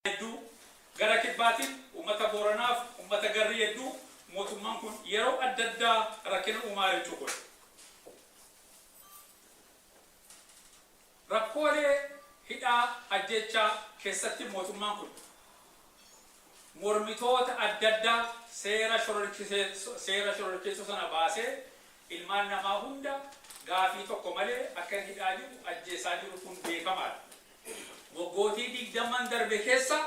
hedduu gara kibbaatiin ummata Booranaaf ummata garrii hedduu mootummaan kun yeroo adda addaa rakkina uumaa jechuu kooti. Rakkoolee hidhaa, ajjeechaa kessatti mootummaan kun mormitoota adda addaa seera seera shororkeessoo sana baasee ilmaan namaa hunda gaafii tokko malee akka hidhaa jiru, ajjeesaa jiru kun beekamaa dha. Waggootii 20n darbe keessa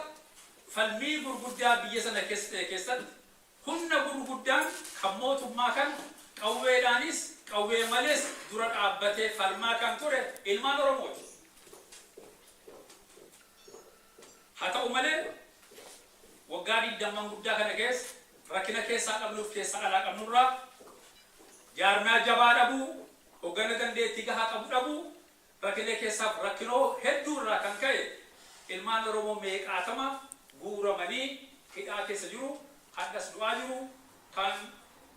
falmii gurguddaa biyya sana keessa ta'e keessatti Humna gurguddaan kan mootummaa kana qawweedhaanis qawwee malees dura dhaabbatee falmaa kan ture ilmaan Oromooti. Haa ta'u malee waggaa digdamman guddaa kana keessa rakkina keessaa qabnuuf keessaa alaa qabnurraa, jaarmiyaa jabaa dhabuu, hoggana dandeettii gahaa qabu dhabuu, Rakilee keessaaf rakkinoo hedduu irraa kan ka'e ilmaan Oromoo meeqaatama guuramanii hidhaa keessa jiru, hadhas du'aa jiru, kaan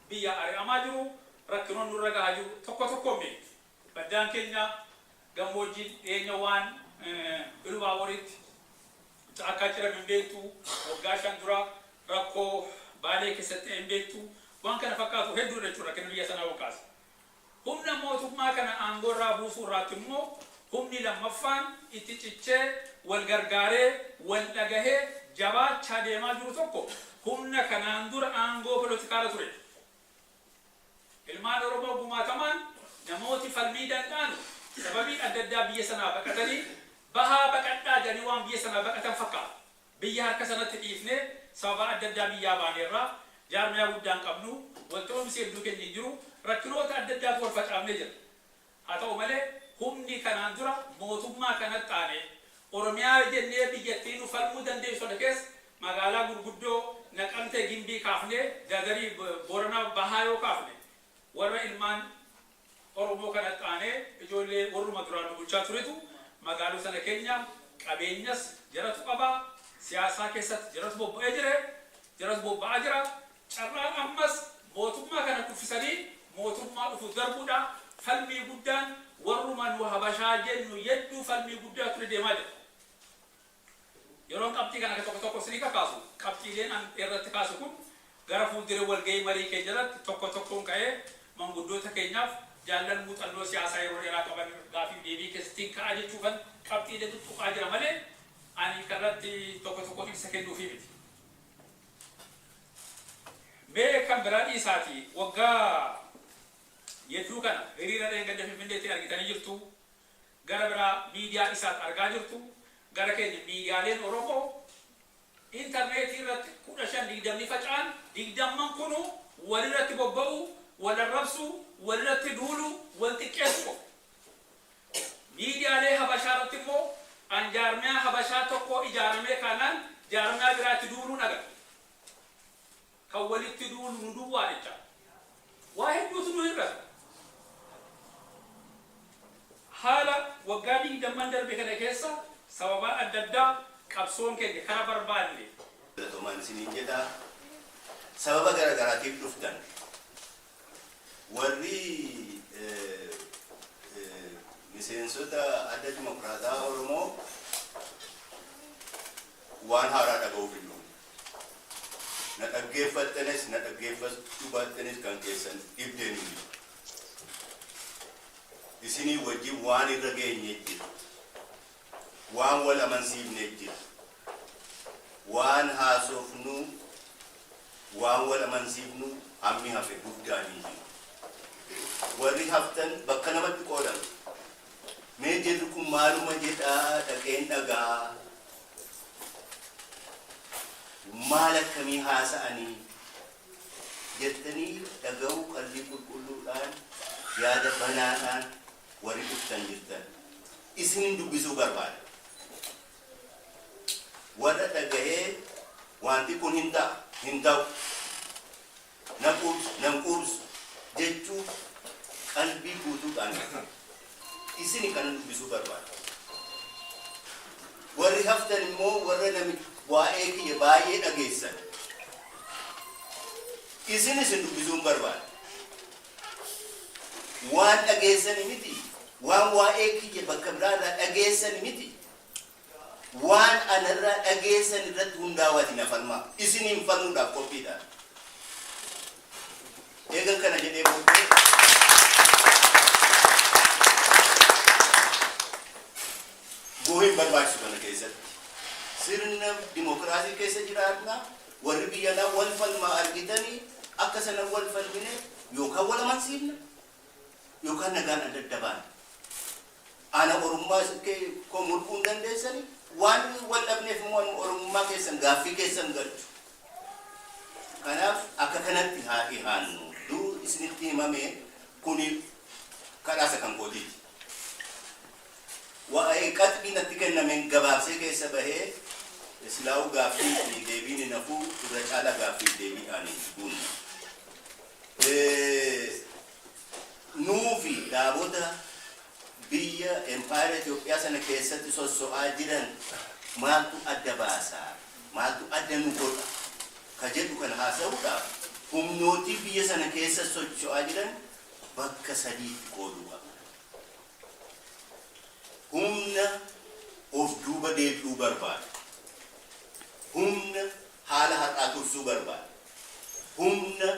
biyyaa ari'amaa jiru, rakkinoon nurra gahaa jiru tokko tokkoon beektu. Baddaan keenya gammoojjiin dhiyeenya waan Ilubaaboriitti caakkaa cirame hin beektu, waggaa shan dura rakkoo Baalee keessatti ta'e hin beektu, waan kana fakkaatu hedduudha jechuudha rakkina biyya sanaa wal kaase. Humna mootummaa kana aangoo irraa buusuu irraatti immoo humni lammaffaan itti cichee wal gargaaree, wal dhagahee jabaachaa deemaa jiru tokko humna kanaan dura aangoo polotikaa irra ture dha. Ilmaan Oromoo gumaatamaan namooti falmii danda'anu sababii adda addaa biyya sanaa baqatanii bahaa baqadhaa jedhanii waan biyya sanaa baqatan fakkaata. Biyya harka sanatti dhiifnee sababaa adda addaa biyyaa baaneerra, jaarmayaa guddaa hin qabnu, walta'uumsi hedduu keenya hin jiru, rakkinoota adda addaatu wal facaafnee jirra. Haa ta'u malee humni kanaan dura mootummaa kanatti aanee Oromiyaa jennee biyyattii nu falmuu dandeessu sana keessa magaalaa gurguddoo Naqamtee, Gimbii kaafnee Dadarii, Boorana Bahaa yoo kaafne warra ilmaan. Oromoo kanatti aanee ijoollee warruma duraan nu bulchaa turetu magaaloo sana keenya qabeenyas jaratu qaba, siyaasaa keessatti jaratu bobba'ee jire, jaratu bobba'aa jira, carraan ammas mootummaa kana kuffisanii mootummaa dhufuuf darbuudha, falmii guddaan warruma nu habashaa jennu yedduu falmii guddaa ture deemaa jira. Yeroon qabxii kana tokko tokko isinii kakaasu, qabxiileen an irratti kaasu kun gara fuuldura walga'ii marii keenya irratti tokko tokkoon ka'ee manguddoota keenyaaf, jaallan muuxannoo siyaasaa yeroo dheeraa qaban gaaffiif deebii keessatti hin ka'a jechuufan qabxiilee tuttuqaa jira malee ani kan irratti tokko tokkoon ibsa kennuufii miti. Mee kan biraa dhiisaatii waggaa yedduu kana hiriira dheengadda Finfinneetti argitanii jirtu, Gara biraa miidiyaa Isaat argaa jirtu, gara keenya miidiyaaleen Oromoo interneetii irratti 15, 20 ni faca'an, digdamman kunuu wal irratti bobba'uu, wal arrabsuu, wal irratti duuluu, wal xiqqeessuu qofa. Miidiyaalee Habashaa irratti immoo an jaarmiyaa Habashaa tokkoo ijaaramee kaanaan jaarmiyaa biraatti duuluun agarta. Kan walitti duunu nu duwwaa jecha waa hedduutu nu hir'ata. Haala waggaa digdamman darbe kana keessa sababaa adda addaa qabsoon keenya kara barbaadne. Galatomaan isiniin jedha. Sababa gara garaatiif dhuftan. Warri miseensota Adda Dimokiraatawaa Oromoo waan haaraa dhaga'uuf hin dhufne. Na dhaggeeffattanis na dhaggeeffachuu baattanis kan keessan dhibdeen hin jiru. Isinii wajjin waan irra geenye jira. Waan wal amansiifne jira. Waan haasofnu, waan wal amansiifnu hammi hafe guddaan hin jiru. Warri haftan bakka lamatti qoodamtu. Mee jarri kun maaluma jedha dhaqeen dhaga'a? Maal akkamii haasa'anii? jettanii dhaga'uu qalbii qulqulluudhaan, yaada banaadhaan warri dhuftan jirtan isinin dubbisuu barbaada. warra dhagahee waanti kun hin ta'a, hin ta'u, na quubsu, nan quubsu jechuuf qalbii guutuudhaan dhufe. Isini kana dubbisuu barbaada. Warri haftan immoo warra nami waa'ee kiyya baay'ee dhageessan, isin isin dubbisuun barbaada. Waan dhageessani miti, waan waa'ee kiyya bakka biraa irraa dhageessani miti. Waan ana irraa dhageessan irratti hundaawaatii na falmaa. Isiniin falmuudhaaf qophii dha. Eegan kana jedhee booddee boohii hin barbaachisu kana keessatti. Sirna dimokiraasii keessa jiraatna. Warri biyya alaa wal falmaa argitanii akka sana wal falmine yookaan wal amansiifna yookaan nagaan adda adda baana. Ana orummaa isin ke koo mulquu hin dandeessani waan wal dhabneef immoo anuma oromummaa keessan gaaffii keessa hin galchu kanaaf akka kanatti haa dhihaannu dur isinitti himamee kuni kadhaa isa kan kootiiti waa'ee qaxbii natti kennameen gabaabsee keessa bahee islaa'uu gaaffii fi deebiin hin hafuu irra caalaa gaaffii fi deebiidhaan hin guunna. nuufi dhaabota biyya empaayera Itoophiyaa sana keessatti sosso'aa jiran maaltu adda baasa? Maaltu adda nu godha? ka jedhu kana haasa'uudhaaf humnootii biyya sana keessa socho'aa jiran bakka sadiitti qooduu qabna. Humna of duuba deebi'uu barbaadu. Humna haala har'aa tursuu barbaadu. Humna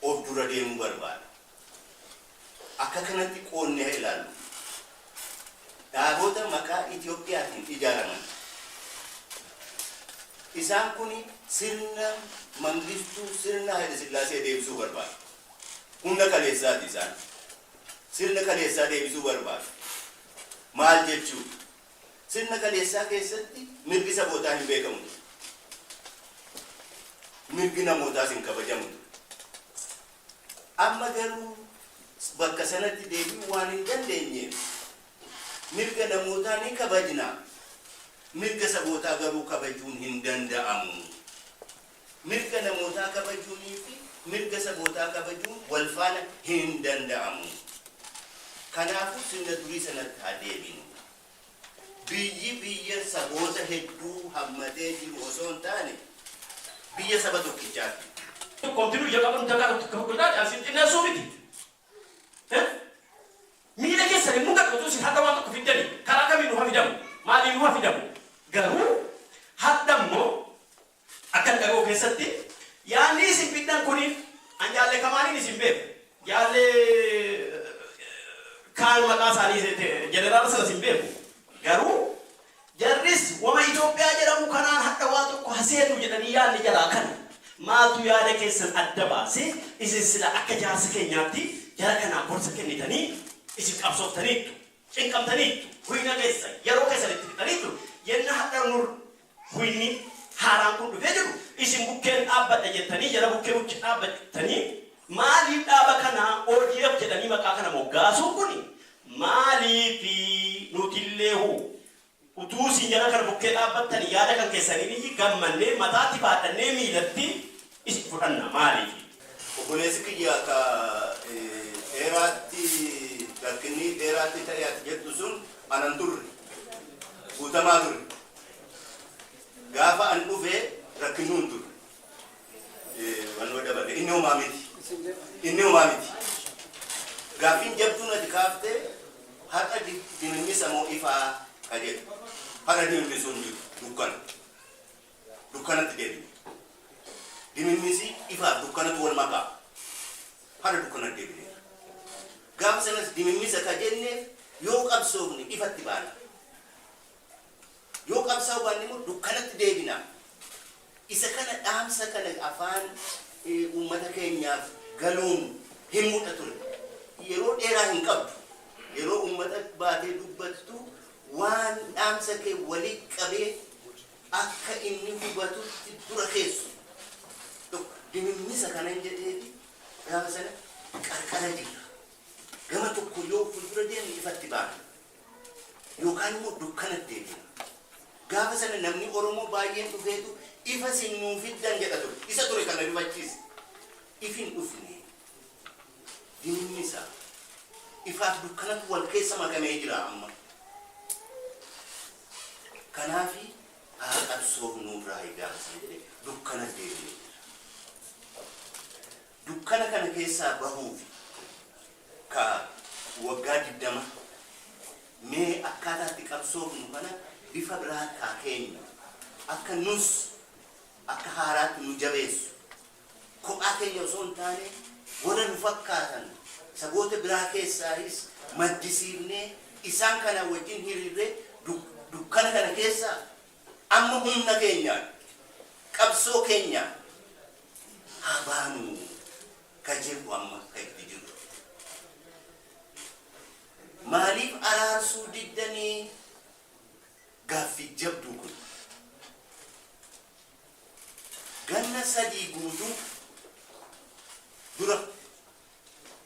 of dura deemuu barbaada. Akka kanatti qoodnee haa ilaallu. Dhaabota maqaa Itoophiyaatiin ijaaraman. Isaan kun sirna Mangistuu, sirna Hayilasillaasee deebisuu barbaadu. Humna kaleessaati isaan. Sirna kaleessaa deebisuu barbaadu. Maal jechuudha? Sirna kaleessaa keessatti mirgi sabootaa hin beekamu ture. Mirgi namootaas hin kabajamu ture. Amma garuu bakka sanatti deebi'uu waan hin dandeenyeef mirga namootaa ni kabajna, mirga sabootaa garuu kabajuun hin danda'amu. Mirga namootaa kabajuunii fi mirga sabootaa kabajuun wal faana hin danda'amu. Kanaafuu sirna durii sanatti haa deebinu. Biyyi biyya saboota hedduu hammatee jiru osoo hin taane biyya saba tokkichaa ti. Tokkoomti nuyi jalqaba nu dagaagu takka tokko irraa caalsee xinneessuu miti. Miila keessan hin mudatu utuu isin har'a waan tokko fiddanii. Karaa kamiin nu ha fidamu? Maaliin nu ha fidamu? Garuu har'a immoo Akkan dhaga'u keessatti yaadni isin fiddan kun an Jaalle Kamaaliin isin beeku. Jaalle Kaal maqaa isaanii jeneraala sanas hin beeku. Garuu jarris wama Itoophiyaa jedhamu kanaan hadha waa tokko haseennu jedhanii yaadni jaraa kana. Maaltu yaada keessan adda baase isin sila akka jaarsa keenyaatti jara kanaaf gorsa kennitanii isin qabsooftaniittu. Cinqamtaniittu. Huyna keessan yeroo keessan itti fixaniittu. Yenna hadha nur Huyni haaraan kun dhufee jiru isin bukkeen dhaabbadha jettanii jara bukkee bukkee dhaabbattanii maaliif dhaaba kana odf jedhanii maqaa kana moggaasuun kun maaliifi nutilleehu utuu isin jara kana bukkee dhaabbattanii yaada kan keessaniiniyyi gammannee mataatti baadhannee miilatti Is fudhanna maaliifi? Obboleessi kiyya ka dheeraatti rakkinni dheeraatti ta'e ati jettu sun ana hin turre. Guutamaa ture. Gaafa an dhufe rakkinnuu hin turre. Wannoo dabale. Inni homaa miti. Inni homaa miti. Gaaffiin jabduun ati kaafte har'a dimimmisa moo ifaa ka jedhu. Har'a dimimmisuun jiru dukkana. dukkanatti deebine. Dimimmisii ifaaf dukkanatu wal makaa. Hara dukkanatti deebineera. Gaafa sanas dimimmisa ka jenneef yoo qabsoofne ifatti baana. Yoo qabsaa'uu baanne immoo dukkanatti deebina. Isa kana dhaamsa kana afaan eh, uummata keenyaaf galuun himuudha ture. Yeroo dheeraa hin qabdu. Yeroo uummata baatee dubbattu waan dhaamsa kee walii qabee akka inni hubatutti dura keessu tokko dimimmisa kanan jedheefi gaafa sana qarqara jirra. Gama tokko yoo fuuldura deemne ifatti baana. Yookaan immoo dukkanatti deebina. Gaafa sana namni Oromoo baay'een dhufeetu ifa isin nuu fiddan jedha ture. Isa ture kan na rifachiise. Ifi hin dhufne. Diinni isaa ifaaf dukkanatu wal keessa makamee jira amma. Kanaafi haa qabsoofnuu irraa egaama san jedhee dukkanas deebi'ee jira. Dukkana kana keessaa bahuufi ka waggaa 20 mee akkaataa itti qabsoofnu kana bifa biraatti haa keenyu akka nus akka haaraatti nu jabeessu kophaa keenya osoo hin taane warra nu fakkaatan saboota biraa keessaayis maddisiifnee isaan kanaa wajjin hiriirree dukkana kana keessaa amma humna keenyaan qabsoo keenyaan haa baanu ka jedhu amma ka itti jiru. Maaliif araarsuu diddanii gaaffii jabduu kun? Ganna sadii guutuu dura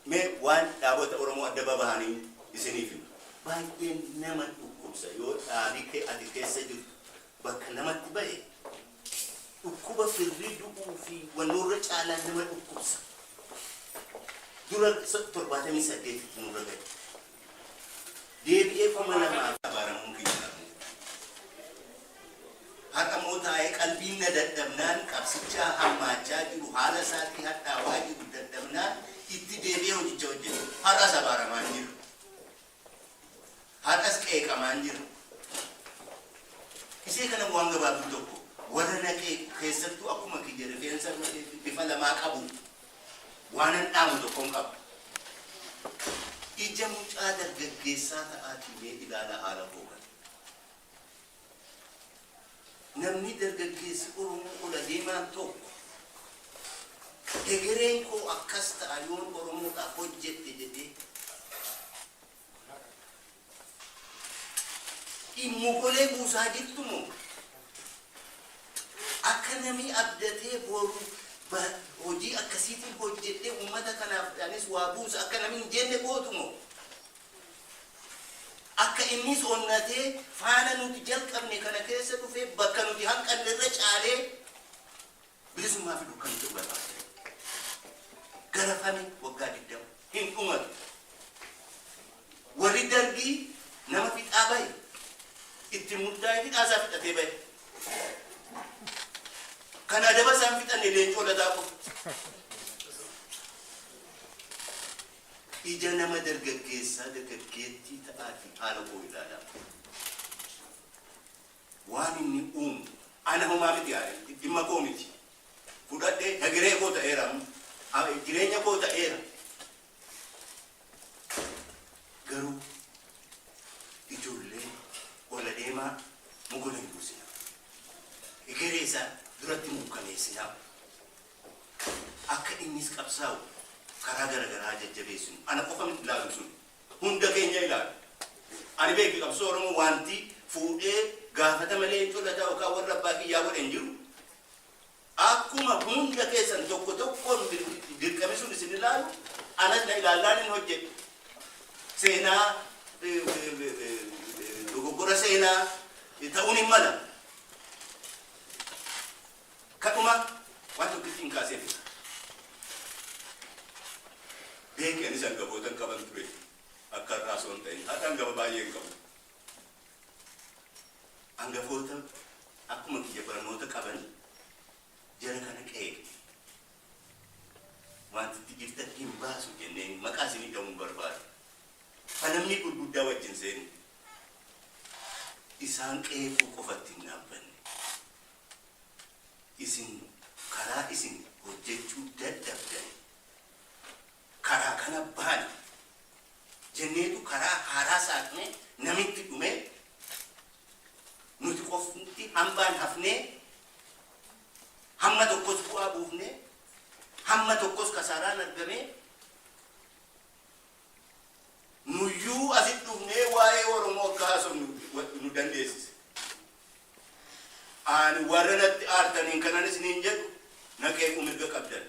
mee waan dhaabota Oromoo adda babahaniin isiniif hima. Baay'ee nama dhukkubsa yoo dhaabi kee ati keessa jirtu bakka namatti bahe dhukkuba firri du'uu fi wannoorra caalaa nama dhukkubsa. Dura 78tti nurra gahe. Deebi'ee kuma lamaatti abaaramuu kiyya arguuf ture. Har'a immoo taa'ee qalbiin na dadhabnaan qabsichaa hammaachaa jiru haala isaatii hadhaawaa jiru dadhabnaan itti deebi'ee hojicha hojjete. Har'as abaaramaan jira. Har'as qeeqamaan jira. Isee kana waan gabaabduu tokko warra naqee keessattuu akkuma kiyya rifeensa bifa lamaa qabu Waanan dhaamu tokkon qaba. Ija mucaa dargaggeessaa ta'aatii mee ilaalaa haala koo kana. Namni dargaggeessi Oromoo ol adeemaan tokko hegereen koo akkas ta'a yoon Oromoodhaaf hojjedhe jedhee, Ati mokolee buusaa jirtu moo? Akka namii abdatee boru hojii akkasiitiin hojjedhee ummata kanaaf anis waa buusa akka namni hin jenne gootu moo? Akka innis onnatee faana nuti jalqabne kana keessa dhufee bakka nuti hanqanne irra caalee, Bilisummaa fi dukkana jedhu barbaada jira. Garafami waggaa 20 hin dhumatu. Warri Dargii nama fixaa bahe itti murtaa'e fixaa isaa fixatee bahe. Kan adaba isaan fixanne leencoo lataa qofa. Ija nama dargaggeessaa dargaggeettii ta'aatii haala koo ilaalaa. Waan inni uumu ana homaa miti yaa ta'e dhimma koo miti. Fudhadhee hegeree koo ta'eera amma. Jireenya koo ta'eera. Garuu ijoollee ol adeemaa mogola hin buusinaa. Hegeree isaa duratti muukkaneessinaa. Akka innis qabsaa'u karaa gara garaa haa jajjabeessinu. Ana qofa miti ilaalu sun. hunda keenya ilaala. Ani beeki qabsoo Oromoo waanti fuudhee gaafatama Leencoo Lataa yookaan warra abbaa kiyyaa godhe hin jiru. Akkuma hunda keessan tokko tokkoon dirqamisuun isin ilaalu anas na ilaallaan hin hojjedhe. Seenaa dogoggora seenaa ta'uun hin mala. Kadhuma waan tokkittiin kaasee fudha. Beeki anis angafootan qaban ture akka har'aa osoo hin ta'in. Har'a angafa baay'ee hin qabu. Angafoota akkuma kiyya barnoota qaban jara kana qeeqi. Wanti itti jirtan hin baasu jenneen maqaa isinii dha'uu hin barbaadu. Falamni gurguddaa wajjin seenu. Isaan qeequu qofatti hin dhaabbanne. Isin karaa isin hojjechuu dadhabdani karaa kana baana jenneetu karaa haaraa saaqnee namitti dhumee nuti qofti hambaan hafnee hamma tokkos bu'aa buufnee hamma tokkos kasaaraan argamee Nuyyuu asitti dhufnee waa'ee Oromoo akka haasofnu nu dandeessise. Ani warra natti aartaniin kanan isiniin jedhu na qeequu mirga qabdan.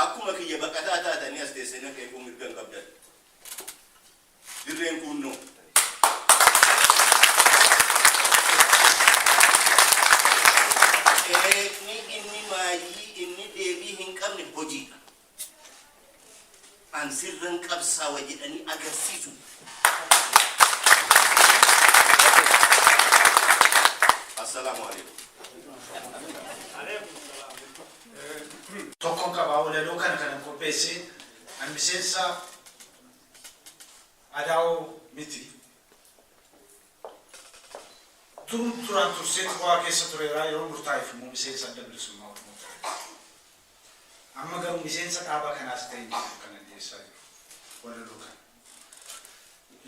Akkuma kiyya baqataa taatanii as teessee na qeequu mirga hin qabdan. Dirreen kuunnoo. Qeeqni inni maayyii inni deebii hin qabne hojiidha. An sirran qabsaawa jedhanii agarsiisuuf. Assalaamu Aleeykum. Tokkon qaba walaloo kana kanan qopheesse an miseensa adawo miti durun duraan tursee xurwaa keessa tureera yeroo murtaa'eef immoo miseensa adda bilisummaa oromoo ta'eera. Amma garuu miseensa dhaaba kanaas ta'e Yusuf kan addeessaa jiru walaloo kana.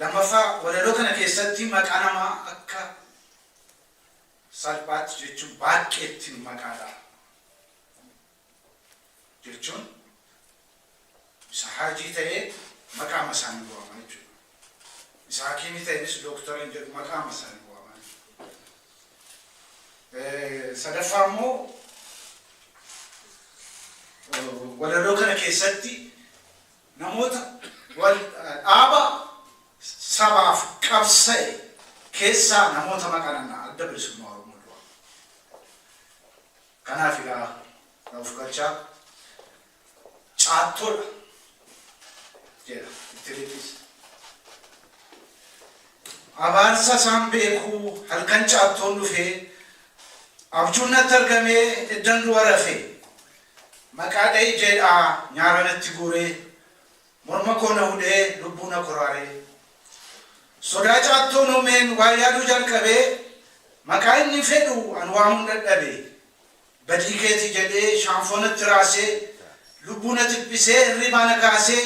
Lammaffaa walaloo kana keessatti maqaa namaa akka salphaatti jechuun baaqqeettin maqaa dhaha jechuun, Isa Haajii ta'ee maqaama isaanii waama jechuudha. Isa Hakiimii ta'eenis Dooktara hin jedhu maqaama isaanii waama jechuudha. Sadaffaa immoo walaloo kana keessatti namoota wal dhaaba sabaaf qabsa'e keessaa namoota maqaa nannaa adda bilisummaa Oromoo dura. Kanaaf egaa of galchaa caattoodha jedha itti fiddiis. Abaarsa isaan beeku halkan caattoon dhufee abjuun natti argamee eddan du'a rafee maqaa dha'i jedhaa nyaara natti guuree morma koo na hudhee lubbuu na koraaree sodaa caattoon uumeen waa yaaduu jalqabee maqaa inni fedhu an waamuun dadhabee. Badii keeti jedhee shaanfoo natti raasee Lubbuu na dhiphisee hirriibaa na kaasee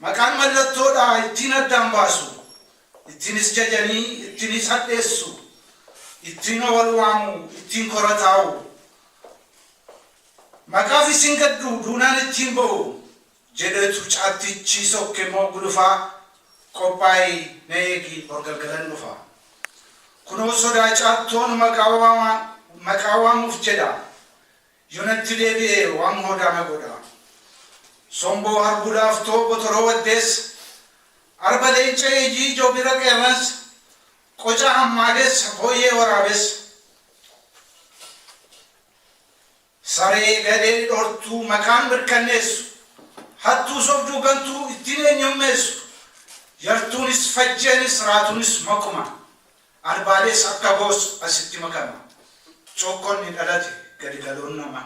Maqaan mallattoodha ittiin addaan baasu Ittiinis jajanii ittiinis hadheessu Ittiinuma wal waamu ittiin kora taa'u Maqaaf isin gaddu duunaan ittiin ba'u jedhetu caattichii sokke moo gulufaa qophaa'i na eegi bor galgalan dhufa. Kunoo sodaa caattoon maqaa waama maqaa waamuuf jedha yo natti deebi'e waan hoodaa na godha. Somboo harbuu laaftoo botoroo waddeessa arba leenca eeyyii joobira qeerransa qocaa hammaadessa booyyee waraabessa. Saree gadhee dhortuu maqaan mirkanneessu Hattuu sobduu gantuu ittiin eenyummeessu Yartuunis fajjeenis raatuunis makuma Arbaalees akka goos asitti makama Cookkonni dhalate gadi galoon nama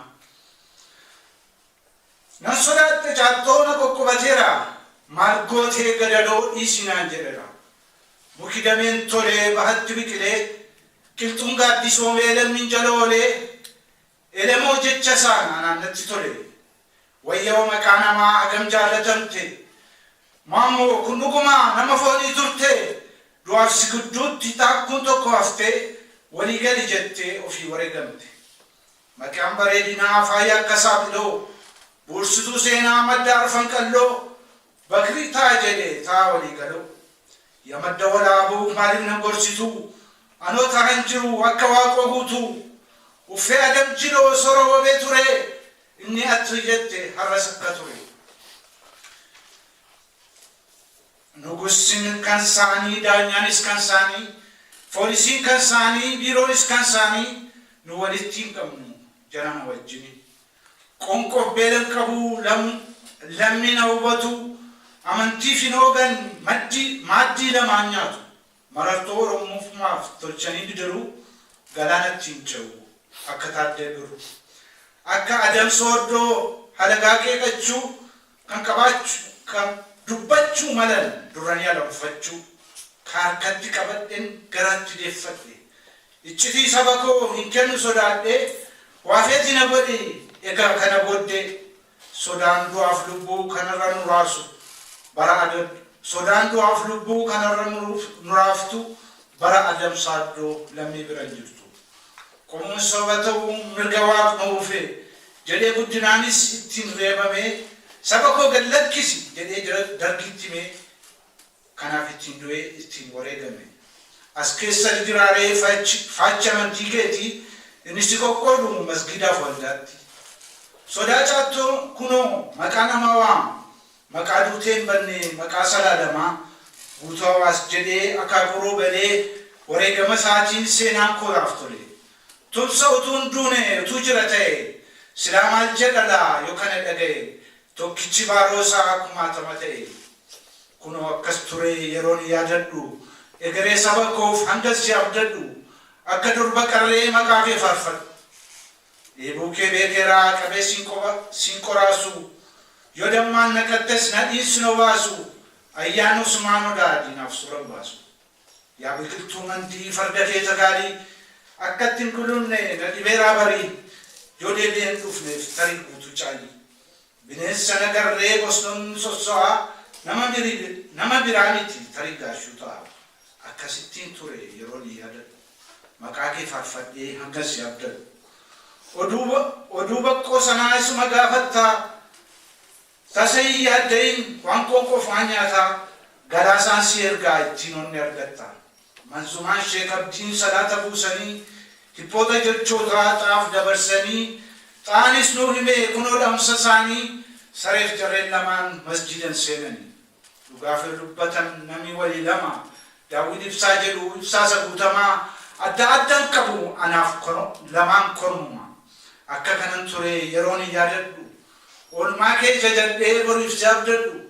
Nan sodaadhe caattoo na qoqqobateera Maal gootee gadadoo dhiisi naan jedhera Muki dameen tolee bahatti biqilee Qilxuun gaaddisoomee lammiin jala oolee Elemoo jecha isaan anaan natti tole. Wayyoo maqaa namaa hagam jaallatamte. Maammoo kun dhuguma nama foonii turtee? Du'aaf si gidduutti taakkuun tokko haftee walii gali jettee ofii wareegamte. Maqaan bareedinaa faaya akka saaxiloo, buursituu seenaa madda arfan qalloo, Bakri taa jedhe taa walii galuu ya madda walaabuu maalif nan gorsituu anoo taahan jiru akka waaqoo guutuu uffee adam jiloo sora wabee turee inni atri jette harras akka ture nugussin kan saanii daanyaanis kan saanii foolisiin kan saanii biiroonis kan saanii nu walitti hin qabnu jarana wajjini Qonqof beela hin qabu Lammiin haa hubatu Amantiif hin hoogan Maddi maaddii lama haa nyaatu Marartoo Oromummaaf tolchanii bidiruu Galaana ittiin ce'u Akka Taaddee Birruu Akka Adam Sooddoo Halagaa qeeqachuu kan qabaachuu ka dubbachuu malan durranii ala buffachuu ka harkatti qabadhen garatti deffadhe iccitii saba koo hin kennu sodaadhee waa feeti na godhi egaa kana booddee sodaan du'aaf lubbuu kan irra nu raasu bara adab sodaan du'aaf lubbuu kan irra nu raaftu bara adamsaaddu lammii bira hin jirtu. Kun soba ta'uu mirga Waaquma uufe jedhee guddinaanis ittiin reebamee saba koo gad lakkisi jedhee jara dargiitti himee kanaaf ittiin du'ee ittiin wareegame. As keessatu jiraa ree fachi faachi amantii keetii inni si qoqqoodu masgiidaaf waldaatti. Sodaa caattoo kunoo maqaa namaa waama Maqaa duutee hin banne maqaa salaalamaa Guutuu Hawaas jedhee akaakuu-roo galee wareegama isaatiin seenaan koo naaf tole. Tumsa utuu hin duune utuu jira ta'e silaa maal jedha laa yoo kana dhaga'e tokkichi baaroo isaa kumaatama ta'e. Kunoo akkas ture yeroon yaadadhu egeree saba koof hangan si abdadhu akka durba qarree maqaa kee faarfadhu. Dheebuu kee beekeeraa qabee sin qoba sin qoraasuu Yoo dammaan naqattes nadhiin sin obaasuu Ayyaanni Usmaan Odaa diinaaf suura hin baasuu Yaa biqiltuu mandii farda kee tagaalii Akkatti hin gulunne na dhibeeraa barii Yoo deebi'ee hin dhufneef tarii guutuu caalii Bineensi sana garree bosnon ni sosso'a, nama biri nama biraa miti tarii gaashuu ta'a. Akkasittiin ture yeroon yaadadhu. Maqaa kee faarfadhee hangan si abdadhu. Oduu ba oduu baqqoo sanaa isuma gaafattaa? Tasa hin yaadda'iin waan qoonqoof waan nyaataa galaasaan si ergaa ittiin onne argatta. Manzumaan Sheek Abdiin salaata buusanii, hiphoota jechootaa xaaf dabarsanii, xaanis nuu hime, kunoo dhamsa saanii, sareef jarreen lamaan masjiidan seenani. Dhugaa fir dubbatan nami wali lama, daawwiin ibsaa jedhu ibsaa isa guutamaa, adda addan qabu, anaaf lamaan kormuma. Akka kanan ture yerooni yaadadhu. Oolmaa kee jajadhee boriif si abdadhu.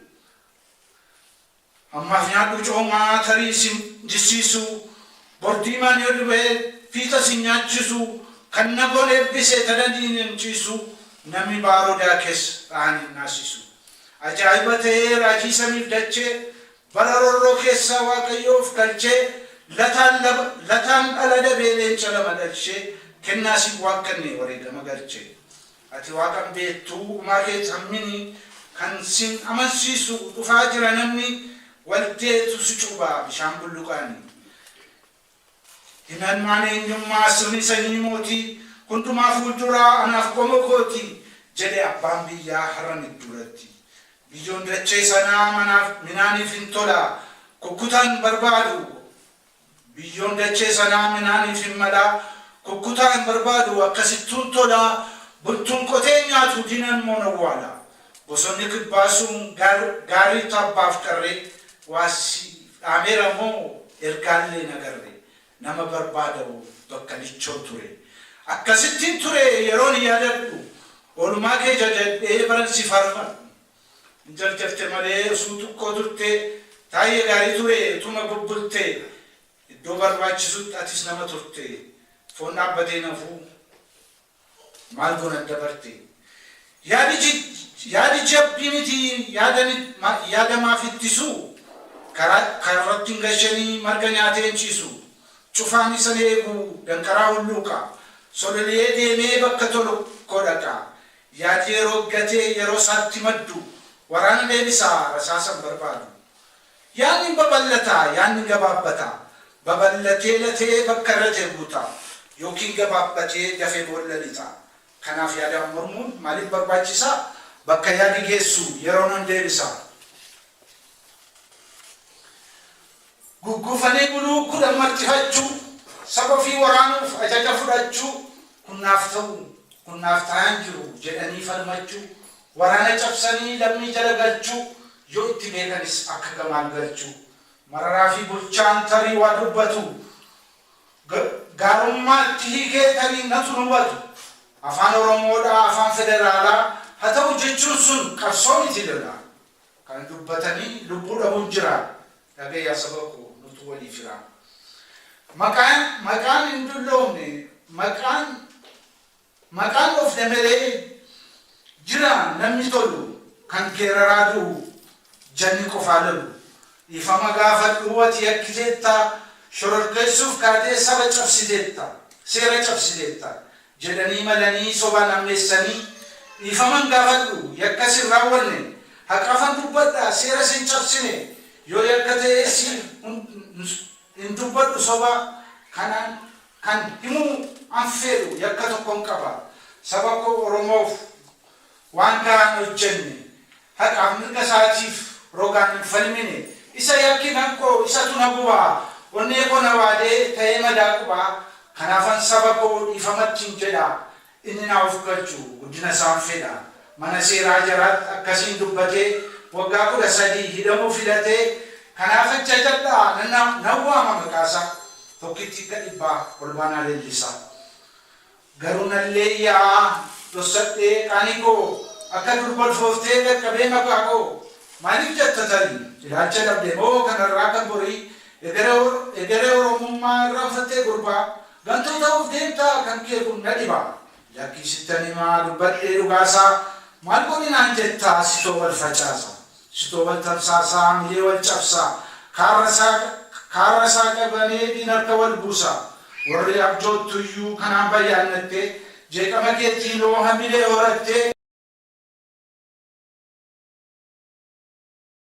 Ammaaf nyaadhuu coomaa tarii sin jissiisuu bor diimaan yoo dubee fiixa sin nyaachiisuu kan nagoon eebbise tana diinan ciisuu namni baaroo daakes dhahan hin naasiisuu ajaa'iba ta'ee raajii samiif dachee bara rorroo keessaa waaqayyoo of galchee lataan laba lataan dhala dabee leenca lama dhalchee kennaa siif waakkannee wareegama galchee Ati Waaqa hin beettu, umaa kee cammini, kan sin amansiisu dhufaa jira namni waldeetu si cuba bishaan bulluqaan. Himanmaan eenyummaa sirni sanyii mootii hundumaa fuulduraa anaaf qomoo kooti jedhe abbaan biyyaa har'a midduuratti. Biyyoon dachee sanaa manaaf minaaniif hin tola kukkutan barbaadu Biyyoon dachee sanaa midhaanii fi malaa kukkutaa hin barbaadu, akkasittuun tola bultuun qotee hin nyaatu, diinaan immoo hin owwaala. Bosonni kibbaa sun gaarii tabbaaf qarree, waa siif dhaameera moo ergaallee hin agarre, nama barbaadauuf bakka lichoo ture. Akkasittiin ture yeroon yaadadhu, oolmaa kee jajadhee baran si faarfadhu. Hin jarjarte malee osuu tukkoo turtee Taayye gaarii ture utuma bubbulte iddoo barbaachisutti atis nama turte foon dhaabbatee hin hafuu maal goona adda barte yaadi yaadi jabbi miti yaada yaada maaf ittisu karaa karratti hin gasheni marga nyaatee hin ciisu cufaan isan eegu danqaraa hulluuqa sololiyee deemee bakka tolu koo dhaqa Yaadi yeroo gatee yeroo isaatti maddu waraana deebisa, rasaasa hin barbaadu. Yaadni hin babal'ata, yaadni hin gabaabbata. Babal'atee latee bakka irra jiru guuta, ykn gabaabbatee dafee boolla lixa. Kanaaf yaadaan mormuun maaliif barbaachisa? Bakka yaadi geessu yeroon deebisa. Gugguufanii buluu, kudhan marcifachuu, saba ofii waraanuuf ajaja fudhachuu, kun naaf ta'u, kun naaf ta'aa hin jiru jedhanii falmachuu, waraana cabsanii lammii jala galchuu, yoo itti beekanis akka gamaal galchuu. Mararaa fi Bulchaan tarii waa dubbatu, gaarummaatti hiikee tarii natu hin hubatu. Afaan Oromoo dha, afaan federaalaa, ha ta'u jechuun sun qabsoo miti lola. Kana dubbatanii lubbuu dhabuun jira dhaga'i yaa saba koo nutu walii fira. Maqaan maqaan hin dulloomne maqaan maqaan dhofne melee jira namni tolu kan geeraraa du'u janni qofaa lolu. Dhiifama gaafadhu ati yakkiteetta shororkeessuuf kaatee saba cabsiteetta seera cabsiteetta jedhanii malanii sobaan ammeessanii dhiifaman gaafadhu yakkas hin raawwanne haqafan dubbadha seeras hin cabsine yoo yakka ta'ee siin hin dubbadhu soba kanan kan himuu an feedhu yakka tokkon qaba saba koo oromoof waan gahaa hin hojjenne, haqaaf mirga isaatiif rogaan hin falmine, isa yakki nakkoo isatu na gubaa, onnee koo na waadee ta'ee madaa qubaa, kanaafan saba koo dhiifamattin jedha, inni naa of galchu guddina isaan fedha, mana seeraa jaraatti akkasiin dubbatee waggaa 13 hidhamuu filatee, kanaaf ajjajadhaa nan waama maqaasaa, tokkittii akka dhibbaa Olbaanaa Leellisaa. Garuu nallee ya'aa dhossadhee qaanii koo akka durba ulfooftee dhaqqabee maqaa koo maaliif jatta tari ilaalcha dhabde moo kan har'aa kan borii egeree oromummaa irraanfattee gurbaa gantuu ta'uuf deemtaa kan kee kun na dhiba lakkii sittan himaa dubbadhee dhugaa isaa maal godhi naan jettaa sitoo wal facaasa Sitoo wal tamsaasaa hamilee wal cabsaa Kaarra isaa qabanee diin harka wal buusaa Warri abjoottuyyuu kanaan bayyaannattee Jeeqama keetiinoo hamilee horattee.